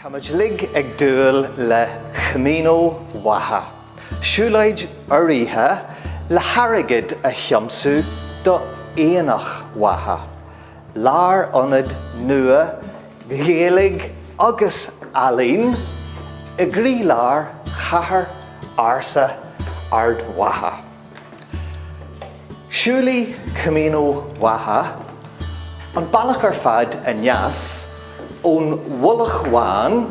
Táimid uilig ag dúil le Camino Mhacha, siúlóid urraithe le hairgead a thiomsú do Aonach Mhacha, lárionad nua Gaeilge agus ealaíon i gcroílár chathair ársa Ard Mhacha. Siúlfaidh Camino Mhacha an bealach ar fad aneas ón Mhullach Bhán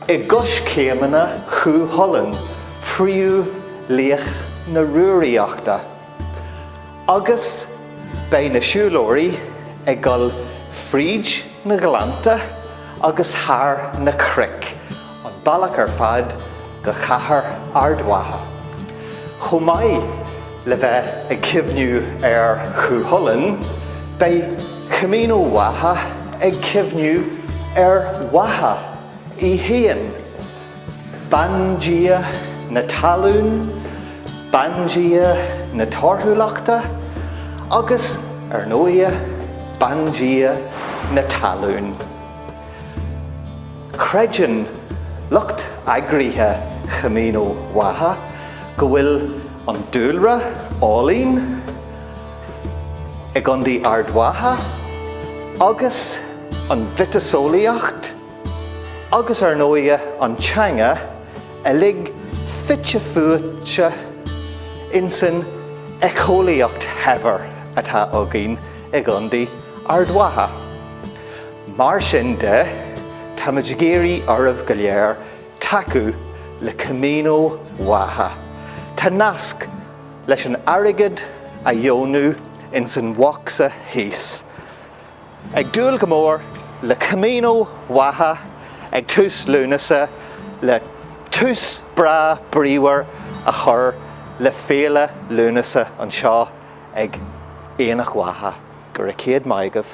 i gcoiscéimeanna Chú Chulainn, príomhlaoch na Rúraíochta, agus beidh na siúlóirí ag dul fríd na gleannta agus thar na cnoic, an bealach ar fad go cathair Ard Mhacha. Chomh maith le bheith ag cuimhniú ar Chú Chulainn, beidh Camino Mhacha ag cuimhniú ar Mhacha í fhéin, bandia na talún, bandia na torthúlachta agus, ar ndóigh, bandia na talún. Creideann lucht eagraithe Chamino Mhacha go bhfuil an dúlra álainn i gContae Ard Mhacha agus an mhiotaseolaíocht agus ar ndóigh an teanga uilig fite fuaite insan éiceolaíocht shaibhir atá againn i gContae Ard Mhacha. Mar sin de, táimid ag iarraidh oraibh go léir tacú le Camino Mhacha. Tá nasc leis an airgead a dheonú insan bhocsa thíos. Ag dúil go mór le Camino Mhacha ag tús Lúnasa le tús breá bríomhar a chur le Féile Lúnasa anseo ag Aonach Mhacha. Go raibh céad maith agaibh.